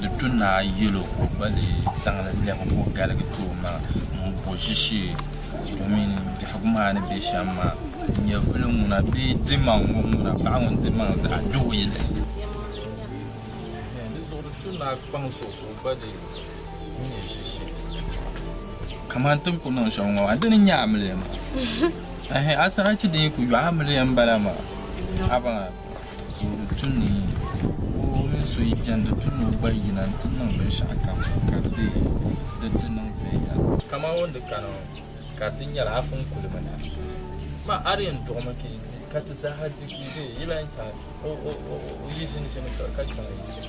Di tu naa yɛl o ka o gba lee zaŋ li lɛbi ka o galigi ti o maŋa m-bo ʒishee domin biɛhigu maa ni be shɛm maa nyɛvili ŋuna bee dimaŋ ŋɔ ŋuna paɣ ŋun dimaŋ zaɣ duhi yi lahi nyɛ. Di zuɣu di tu naa kpaŋ so ka o gba lee nyɛ ʒishee kaman ti ni ku niŋ shɛm ŋɔ maa. Di ni nya amiliya maa? Ɛɛhɛ! Asarachi din yi ku yo amiliya m-bala maa. Abaŋ! Soori tu ni o mini so yi jɛndi tu ni o gba yina nti niŋ binshɛɣu kam ka di be di ti niŋ viɛnyɛla. Kaman o ni di kani ŋɔ, ka di ti nyɛla afa n-kuli mi na. Ma a di yɛn duɣimi ka yi di, ka ti zaaha di ka yi be, yi lan chaŋ o yi ʒini shɛli ka chaŋ yi ti.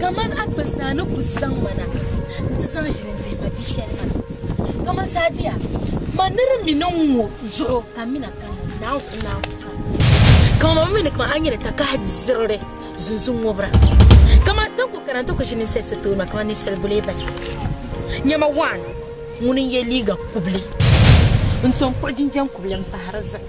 Kaman a kpini zaa ni ku zaŋ ma na nti zaŋ ʒili n-dihi ma bi shɛli maa, kaman saa diya, ma ni di mi niŋ ŋɔ zuɣu ka mina ka ni naan ku naai ku ka ni mi. Kaman ma mi ni kaman a nyini takahi zirili zunzu ŋubira, kaman a tanku kana nti ku ʒi ninsal so tooni maa kaman ninsal bulee balibu. Nya ma waan, ŋuni n-ye liiga kubili n-to n-kpuɣi jinjam kubili m-pahi di zuɣu.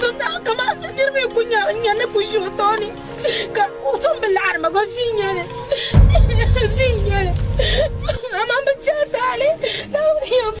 Zumdaɣu kaman bɛ niriba yi ku nya n nya ni ku ʒi o tooni, ka o tom bi laɣiri ma gba viin yɛli, viin yɛli, amaa bɛ chɛ a taali, Naawuni yɛn bi.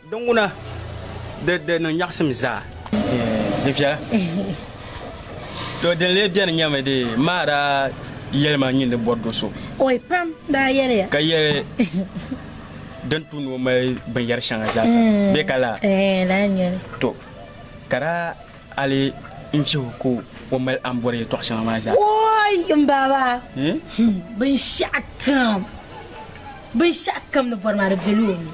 Di ŋuna, di, di niŋ nyaɣisim zaa. Di viɛla. To din lee beni nyɛmi di maa daa yɛli ma nyin di bɔri do so. Oi pam daa yɛliya. Ka yɛli din tu ni o mali binyɛri shɛŋa zaasa bee ka laa? Eeh, lala nyɛli. To, ka daa ali n vihi o ka o mali a ni bɔri yɛtɔɣ shɛŋa maa zaasa. Oi m baaba! Binshɛɣu kam, binshɛɣu kam ni bɔri maa di dila o nuu.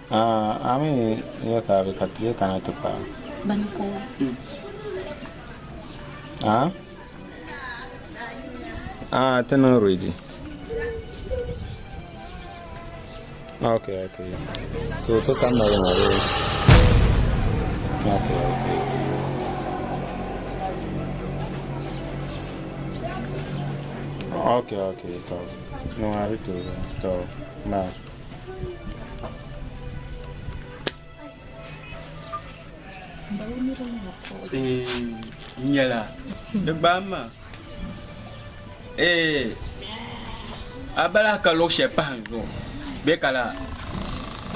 A, a mi ya ka a bi ka ti bee kana ti paai a? Bani ka o zi? A, a ti niŋ ready? Ok, ok. So ti kanna li na bee? Ok, ok. Ok, ok, to. Niŋ a di tooi, to, bye. nyɛla di gbaai maa ee a bala ka luɣu shɛli pahi n zuɣu bɛ ka la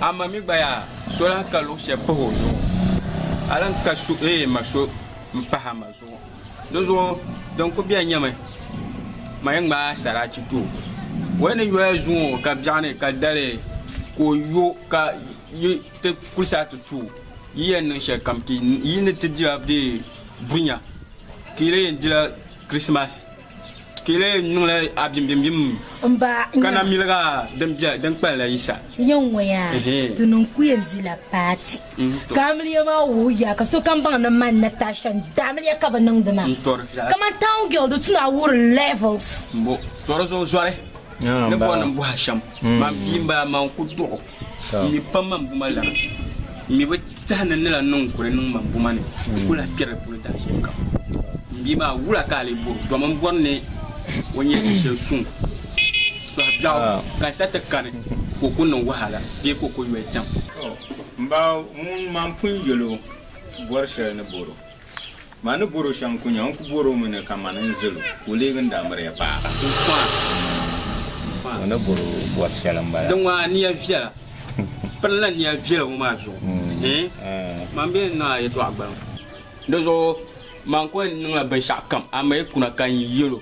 a ma mi gba yaa so lahi ka luɣu shɛli pahi o zuɣu a lahi ka so ee ma so n pahi a ma zuɣu Di zuɣu din ku bɛ nyɛmi ma yi ŋmaai saraachi ti o. O yi ni yoya zuŋ o ka biɛɣu ni ka dali ka o yo ka yi ti kuli saa ti tu o, yi yɛn niŋ shɛli kam ti yi ni ti dila bee bunya ka yi lee yɛn dila Kirisimas. Ti lee niŋla a bimbimbim ka na miliga din kpalim la Yisa. Ya ŋɔ ya ti niŋ ku yɛn di la paati ka amiliya maa wuhi ya ka sokam baŋ ni man Natasha n di amiliya ka bi niŋdi maa. Kamani town girl di tuna wuhiri levels. Mbo tɔri zuɣu zɔri ni bɔri ni m bɔhi a shɛm man bia m bala man ku duɣi o. N mi pam man buma lana, n mi bi tehi ni n ni lan niŋ kuli niŋ man buma ni n ku lahi kperi di puuni daa shɛli kam. M bia maa, wula ka a lee bɔri o? Dɔmi m bɔri ni o nya ti shɛli suŋ sɔhi biɛɣu ka n sa ti kani ka o ku niŋ wahala bee ka o ku yoli tiɛm. M ba, ŋun man pun yɛl o bɔri shɛli ni bɔri o. Ma ni bɔr o shɛm ku nya, n ku bɔr o mi ni kaman n zil o, ka o leeg n-daa miri ya paɣa. Ma ni bɔr o bɔr shɛli m-bala. Di ŋmaai nia viɛla. Pirila nia viɛla ŋɔ maa zuɣu. Man bee n-niŋ a yɛtɔɣa gbaliŋ. Di zuɣu man ku niŋla binshɛɣukam, amaa yi kuna ka n yɛl o.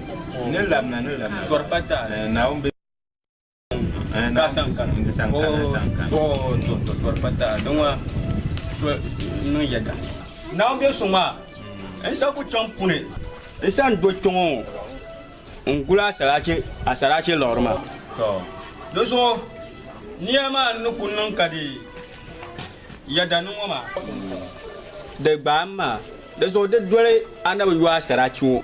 Ni labina, ni labina. Kɔri pa taali. Eh, Naawuni be. Eh, Ka san kana. N ti san kana, n san kana. Oh, oh, to, to, kɔri pa taali. Di ŋɔ so niŋ yɛda. Naawuni be so ŋɔ a. N sa ku chaŋ puni. N san do kpɛŋɔ ŋɔ n guli a saraachi, a saraachi liɣiri ma. To. Di zuɣu nia maa ni ku niŋ ka di yɛda ni ŋɔ maa. Di gbaai n maa. Di zuɣu di doli Annabi Yɔa saraachi ŋɔ.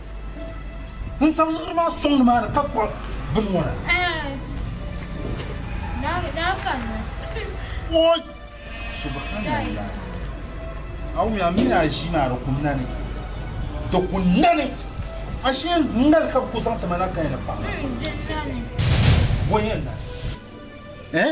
N zaŋ liɣiri maa sɔŋ nimaani ka kpuɣi bini ŋɔ na. Oi! Subhanallah! A wum a mi ni a ʒii maa di ku nani. Di ku nani! Ashee n nali ka bi ku zaŋ ti ma na kaya ni paɣa maa. Bɔ yɛn nali. Eh?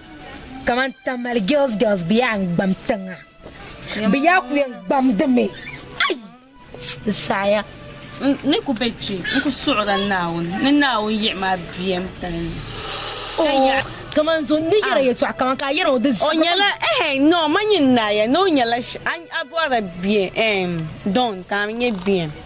Kamani Tamale girls girls bɛ yaa n gbam tiŋa bɛ yaa ku yɛn gbamdimi ayi di saaya. N ni ku be kpe n ku suɣila Naawuni ni Naawuni yiɣi ma bem palli. Kamani zo ni yɛri yɛtɔɣa kamani ka a yɛri o di O nyɛla ɛhɛ nɔɔ ma nyin naayɛ ni o nyɛla sh a bɔri bem ɛɛm dɔn ka a mi nyɛ bem.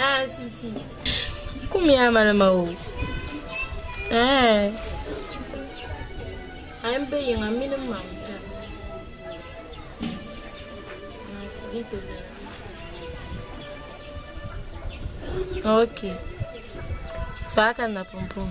Ah, sweetie. Kum ya malima o. Eh. Ai mbe yinga mini mam zan. Okay. So aka na pumpum.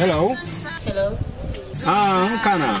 Hello. Hello. Ah, n kana.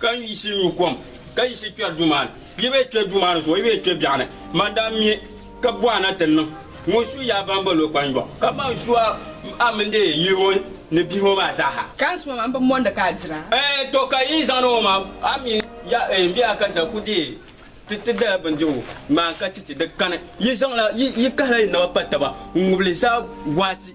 Ka n yiɣisi nyu kom, ka yiɣisi kpɛri duu maa ni. Yi bee kpɛ duu maa ni zuɣu, yi bee kpɛ biɛɣu ni. Man daa mi ka buɣa na ti niŋ ŋun su yi a ba m-bol o kpanjɔɣu, ka man su a mini di yili ŋɔ ni bihi ŋɔ maa zaa ha. Ka n su a maa, m bi mondi ka a dira. Ɛɛn tɔ! Ka yi zaŋdi o maa, a mi ya ɛɛn bee a ka sa ku deei ti ti dala bindirigu maa ka ti ti di kani. Yi zaŋla, yi kahila yi naba pa taba n-ŋubili saa gɔɣiti.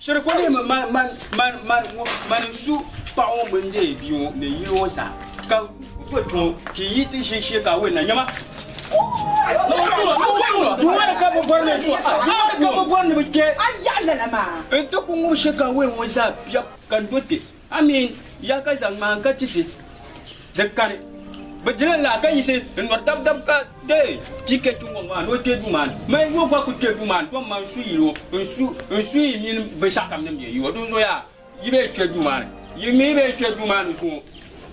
Shiri ko leemi man, man, man, man, ŋɔ, man n su paɣa ŋɔ mini deei bia ŋɔ ni yili ŋɔ zaa, ka boli ti ŋɔ ka i yi ti ʒe shee ka a weli na, nyama. Di wari ka bi bɔri ni, di wari ka bi bɔri ni bi kpe. A yaɣi lala maa. N ti ku ŋubi shee ka a weli ŋɔ zaa biɛbu ka n do kpe. A mi ya ka zaŋ ŋmaan ka titi di kani. Bɛ dila laa ka yiɣisi n-nyɔri dabidab ka deei pii kpe tiŋgbɔŋ maa ni o kpe duu maa ni. Mali yo gba kul kpe duu maa ni tom man su yil o, n su yi mini binshɛɣukam din be yi o. Dinzuɣu yaa, yi bee kpe duu maa ni. Yi mi yi bee kpe duu maa ni zuŋɔ.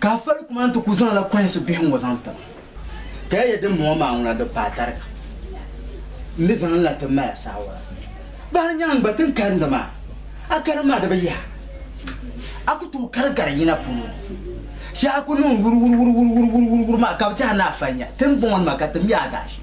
Ka a fali kuma nti ku zaŋla kɔhisi bihi ŋɔ zaŋ tiri a. Ka ya yɛli din mɔŋɔ maa ŋuna di paai tariga m ni zaŋ la ti mali a saawara. Baa n-nya a n-gba ti n karindi maa, a karim maa di bi yihi a. A ku tooi kari gari yina polo ni. Shɛhi a ku niŋ wuriwuriwuriwuriwuriwuriwuri maa ka bɛ ti a ni a fali nya, ti ni bɔŋɔ ni ma ka ti mi a daashee.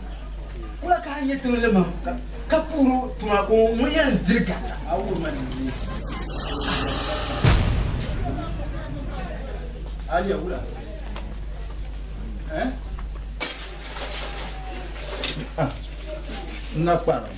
Wula ka a nyɛ tiŋli mam ka puhir o tuma ka o ŋun yɛn diri ka a wuhir ma nimbilinsi? Aliya wula? N na kparim.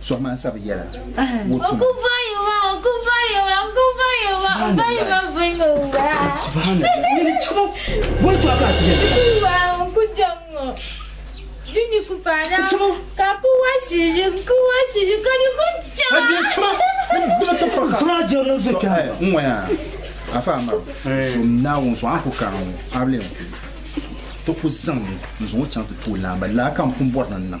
Sohima n sabi yɛla o tuma. N ŋɔya afa amara so naawuni zuɣu an ku kana ŋɔ a bi lee n ku ti ku zaŋ n zuŋɔ chaŋ ti tooi laamba laa ka n pun bɔri ni n niŋ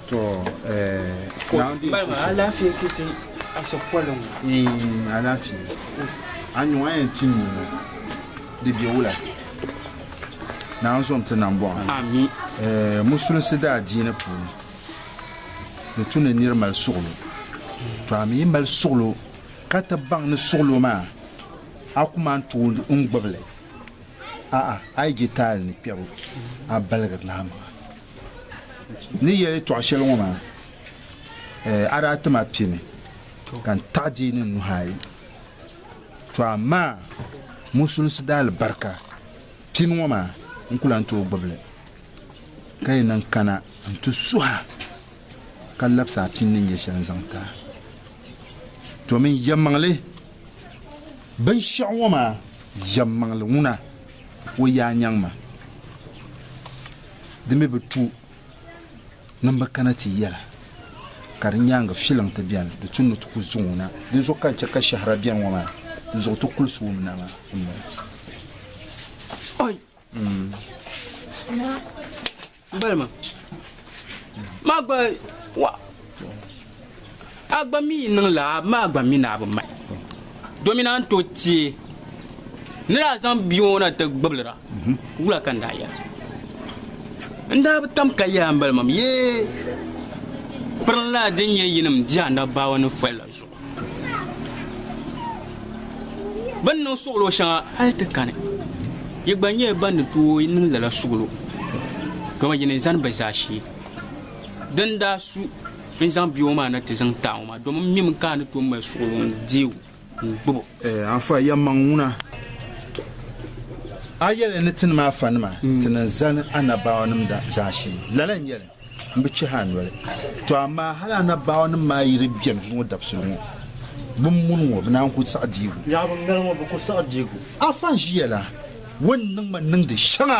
To eh, now di Bala maa alaafee ku ti aso poli ŋɔ. Eh, alaafee. A nyuŋ a yɛn tim mi ŋɔ. Di be wula? Naa zom ti nam bɔɣu. Ami. Eh, musulinsi daa diini puuni di tu ni niri mali suɣilo. To a mi yi mali suɣilo ka ti baŋ ni suɣilo maa a ku man tooi n gbibili. A'a, a yi je taali ni kpɛbu a baligiri lahimaŋa. Ni yɛli tɔɣ shɛli ŋɔ maa, a daa ti ma pini ka n taɣi di ni nuhi ayi. Tɔ amaa musulisi daa alibarika pini ŋɔ maa n ku lan tooi gbibi li, ka yi niŋ kana nti suha ka labisi a pini ni nyɛ shɛli n-zaŋ ti a. Tɔ min yɛmmaŋli binshɛɣu ŋɔ maa yɛmmaŋli ŋuna, o yaa nyaŋ ma. Di mi bi tu nim bi kana ti yɛla ka di nyaaŋa filiŋ ti beni di tu ni ti ku zuŋɔ na. Dinzuɣu ka n chɛ ka shɛhira beni ŋɔ maa dinzuɣu ti kulisi wum na maa m-bala. A gba mi yi niŋ laa, maa gba mi naa bi mahi. Domin a ni tooi teei ni daa zaŋ bia ŋɔ na ti gbibili ra, wula ka n daa yɛra? N daa bi tam ka yaai m-bali mam yi pirinlana din nyɛ yinim di anabaawa ni foli la zuɣu. Bɛ ni niŋ suɣilo shɛŋa hal ti kani, yi gba nyɛla ban ni tooi niŋ lala suɣilo, dama yi ni zani bɛ zaashee din daa su. N zaŋ bia ŋɔ maa na ti zaŋ taai ŋɔ maa domi m mimi ka a ni tooi mali suɣulo n deei o n gbubi o. Eh, Anfa, yɛmmaŋ ŋuna. A yɛli ni ti ni ma afanima ti ni zani anabaawanim zaashee. Lala n-yɛli, M bi chɛhi a noli. Tɔ amaa hal anabaawanim maa yi di bɛn zuŋɔ dabisili ŋɔ, bɛ ni muni ŋɔ, bɛ naan ku saɣi diigu. Yaɣa bɛ ni mali ŋɔ, bɛ ku saɣi diigu. Anfa n-ʒiya la, o ni niŋ ma niŋdi shɛŋa.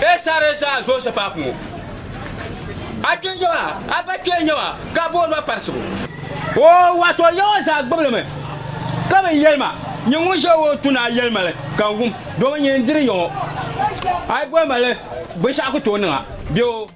Bɛ saɣiri zaa Zɔɔsaphat ŋɔ. A kpee n-nyɛ ma, a ba kpee n-nyɛ ma, ka booni ma Parisigu. O wato yaŋɔ zaa gbibili mi, ka bi yɛli ma, Nyin ŋun ʒe o tu ni a yɛli ma li, ka n wum, domi nyin n-diri yaŋɔ. A yi boli ma li binshɛɣu ku tooi niŋ a, bɛ o.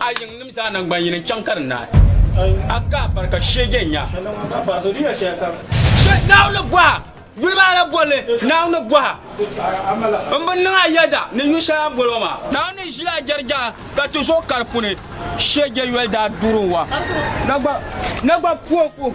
A yiŋnim zaa naŋgban yini n-chaŋ ka di naai. A ka a barika sheege n-nya. Naawuni gɔha, yuli maa la bol li Naawuni gɔha. M bi niŋ a yɛda ni yu shɛli a ni bol o maa. Naawuni ʒila a jɛrijaŋa ka ti zo ka di puni. Sheege yoli daa duuri n-wa. Na gba puh o fuh.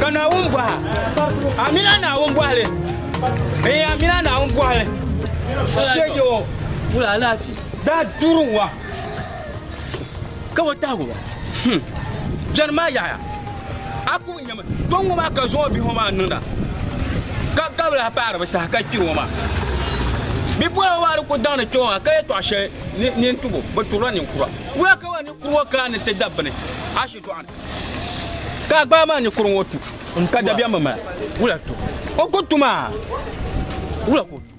Ka Naawuni bɔha, Amina Naawuni bɔhili, ee Amina Naawuni bɔhili, shege o wula alaafee daa duri wa ka o tahigu wa. Hmm. Bɛni maa yaɣaya, a ku nyɛmi kpe ŋɔ maa ka zuŋɔ bihi ŋɔ maa niŋda ka gabili a paari bi saha ka kpi ŋɔ maa. Bipuɣiŋ maa di ku daŋdi kpe ŋɔ maa ka yɛtɔɣ shɛli nini tubu bi turila ninkura. Wula ka ba ninkuri ŋɔ kana ni ti dabi bini? Ka a gbaa maa ni kuri ŋɔ tu ka dabiɛm bi mali. Wula tu? O ku tu maa. Wula ku tu?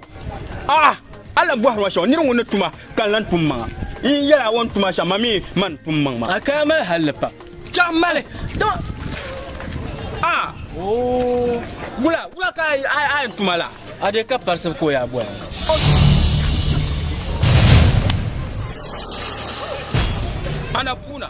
A'a, a lahi bɔhiri ma shɛm, nir ŋun ni tu ma ka n lan tum maŋa. N yi yɛl a o ni tu ma shɛm, ma mi ma ni tum maŋ ma. A kaya mali hal li pam. Chɛ m mali, dama a wula wula ka a yɛn tu ma la? A deei ka parisi ka o yaa boli ma. Annapuuna.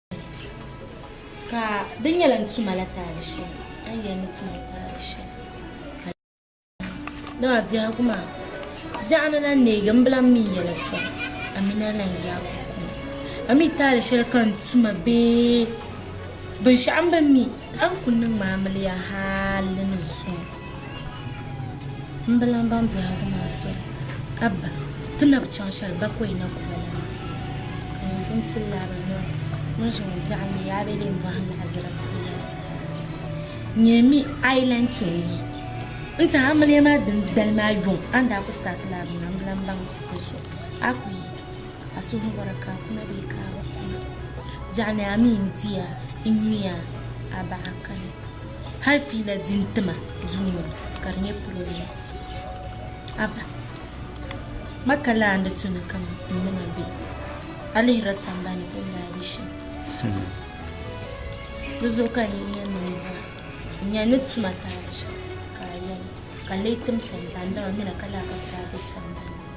Ka di nyɛla n tuma la taali shɛli a ni yɛn ni tuma taali shɛli ka dama biɛhigu maa biɛɣu ni na neegi n bilam mi yɛla sɔŋ a mi ni na yaagi o kuli a mi taali shɛli ka n tuma bee binshɛɣu n bi mi a ni ku niŋ ma amiliya hali ni zuŋɔ M bi lan baŋ biɛhigu maa soli, Abba! Ti na bi chaŋ shɛli bakɔi na ku ba la maa? Ka yin pun pili laa ba noli, ŋun ʒi ŋɔ biɛɣuni ni yaa be din vɔhi naɣ dira ti bi yɛli, Nyɛ mi a yi lan tom yi n ti amiliya maa din dali maa yɔŋ, a ni daa ku start laa bini maa, m bi lan baŋ n suhi. A ku yi a suhu ni bɔra ka a kuna bee ka a bi kuna. Biɛɣuni a mi n-ti ya n-nyuya a baɣa kali. Hali fiila di ni ti ma duu ŋɔ ni ka di nyɛ pirɔblɛm. Abba, ma ka lahi ni tu ni kaman n ni ma be a lihira sambani ti ni daa be shɛm maa. Di zuɣu ka n yi nya niŋdira n-nya ni tuma taali shɛm ka a yɛli ka n lee timsa n-zaŋ dama mi na ka lahi ka ti daa be sambani.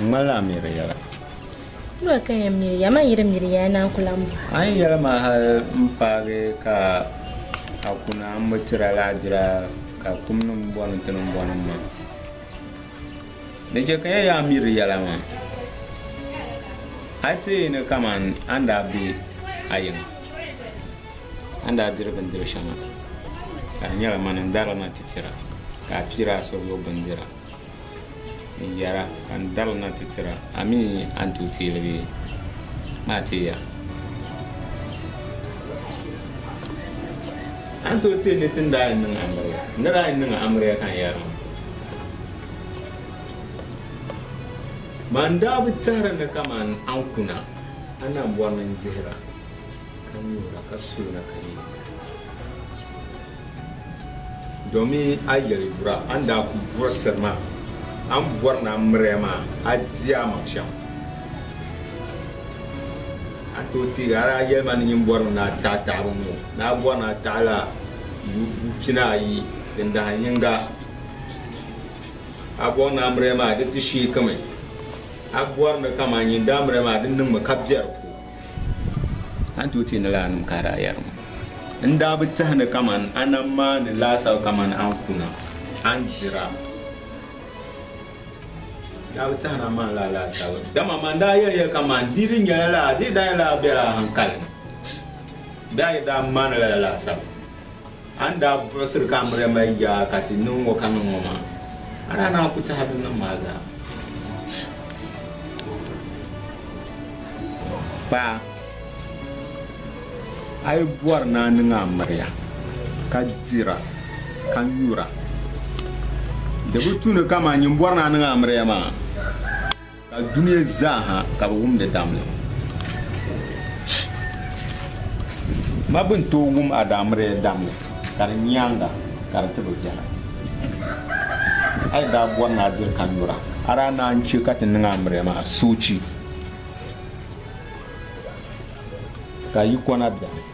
N ŋmanila a miri yɛla. Duwa ka yɛn miri ya, man yi di miri ya ya naan ku lahi m bɔha. A yi yɛli ma hal m paagi ka a ku na, m bi ti a lahigira ka kumnim bɔ ni ti niŋ bɔ niŋ ma. Di chɛ ka ya yaa miri yɛla maa. A yi ti yi ni kaman a ni daa be a yiŋa, a ni daa diri bindiri shɛŋa, ka di nyɛla mani n-dari li ma ti tira, ka a piiri a suhuyubu bindira. n yɛra, Ka n dari na ti tira. A mi a ni tooi teei li bee? Maa teei ya. A ni tooi teei ni ti ni daa yɛn niŋ amiliya. N ni daa yɛn niŋ amiliya ka n yɛri maa. Maa n daa bi tɛhiri ni kaman a ni kuna, a ni bɔri ni n dihira, ka nyuhira, ka suhira, ka yɛ. Domi a yeli bura a ni daa kuli burisiri maa, a ni bɔri ni a miriya maa, a di a maŋ shɛm. A tooi teegi hali a yeli ma ni nyin bɔri mi ni a taɣi taɣibu ŋɔ, ni a bɔri ni a taɣi la buyi pina ayi din dahin yiŋga. A bɔri ni a miriya maa di ti sheeki mi, a bɔri ni kaman nyin daa miriya maa di niŋ mi ka bɛ di ko. A ni tooi ti ni laanim ka a daa yɛri ma, N daa bi tehi ni kaman a na maa ni laasabu kaman a ni ku na, a ni dira. N daa bi tehi ni a maa ni laa laasabu, dama man daa yɛli ya kaman di yi di nyɛla laa, di yi daa nyɛla laa bela a haŋkali ni, bee a yi daa maani lala laasabu. A ni daa buɣisiri ka Amiriama yi ja ka ti niŋ ŋɔ ka niŋ ŋɔ maa, a daa naai ku tɛha binnim maa zaa. Pa a yi bɔri ni a niŋ Amiriya ka dira ka nyura, di bi tu ni kaman nyin bɔri ni a niŋ Amiriya maa. Ka dunia zaaha ka bɛ wum di damli. Ma bi ni tooi wum Adaamrea damli ka di nyaaŋa ka di ti bi biɛha. A yi daa bɔri ni a diri ka nyura, a daa naan chɛ ka ti niŋ Amrea maa soochi ka yi kɔna beni.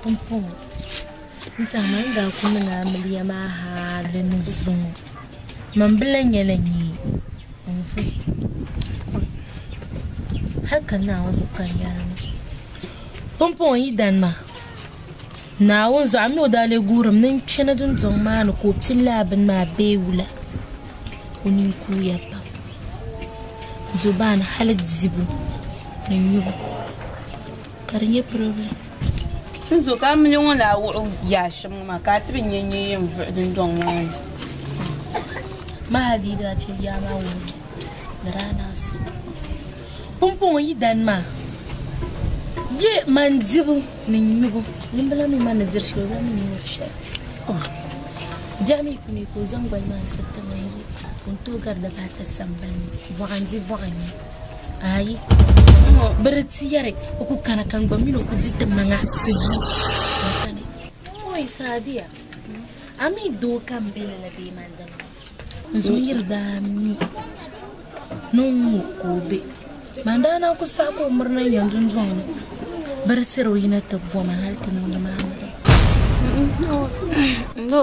pumpɔŋɔ n-tiɛhi ma ni daa ku niŋ amiliya maa hal di ni zo ŋɔ man bi lahi nyɛla nyee n-vuhi pɔi hali ka Naawuni zuɣu ka n yɛli ŋɔ pumpɔŋɔ yi dani ma Naawuni zuɣu a mi o daa lee guhirimi ni n kpɛna dundɔŋ maa ni ka o ti laa bini maa bee wula o nini kuuya pam zobani hali dibu ni nyubu Ka di nyɛ problem. N zo ka a mili ŋun lahi wuɣi o yaa shɛm ŋɔ maa ka a ti bi nya nyee yɛn vuɣi dundɔŋ maa ni. Mahadi daa chɛ yaa maa wuhiri ni daa ni a so pumpɔŋɔ yi dan maa. Yi mani dibu ni nyubu nimbila mi mani ni diri shɛli o zaŋ mi ni nyuri shɛli. Oh, biɛɣu mi ku mi ka o zaŋ goli maa n-siri tiŋa n-yi o ni tooi gari dabaata sambani ni. Vɔɣa n-di vɔɣa n-nya. Ayi, n ŋɔ bi di ti yɛri o ku kana ka n gba mini o ku di ti maŋa ti du n sani. N ŋɔ yi Saadiya, a mi doo ka m be lala bee man di mi? N zo yiri daa mi ni n ŋɔ ka o be. Man daa naan ku saɣi ka o miri na n-yɛn dundɔŋ ni bi di siri o yi na ti bo ma hali ti niŋdi ma amiliya. N ŋɔ, n lo.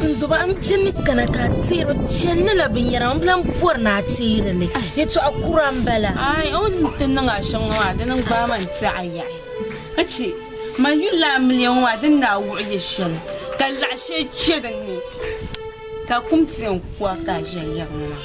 N duba n jini kana ka a teeri chɛnli la binyɛra n lahi bɔri ni a teeri li yɛtɔɣa kura n bala. Aai, o ni ti niŋ a shɛŋa maa dini n gbaai ma n ti a yaɣi ka chɛ ma yuli a miliya ŋɔ maa din daa wuɣi ya shɛli ka laɣ shɛli chɛ din ni ka kum ti yɛn ku a ka a ʒiya yaɣi ma maa.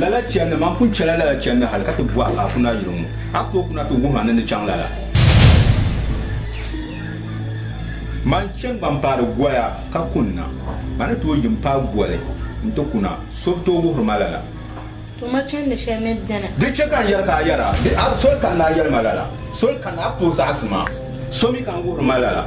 Lala chɛndi, man pun chɛla lala chɛndi hal ka ti bɔh a kuna yuri ŋɔ. A tooi kuna ti wuhi a ni ni chaŋ lala. Man chɛ gba m-paari goya ka kunna. A ni tooi yi m-paai goli nti kuna, so bi tooi wuhiri ma lala. To ma chɛndi shɛli mi beni. Di chɛ ka n yɛli ka a yɛra, di a soli kanna a yɛli ma lala. Soli kanna a bi tooi zaɣisi ma, so mi ka n wuhiri ma lala.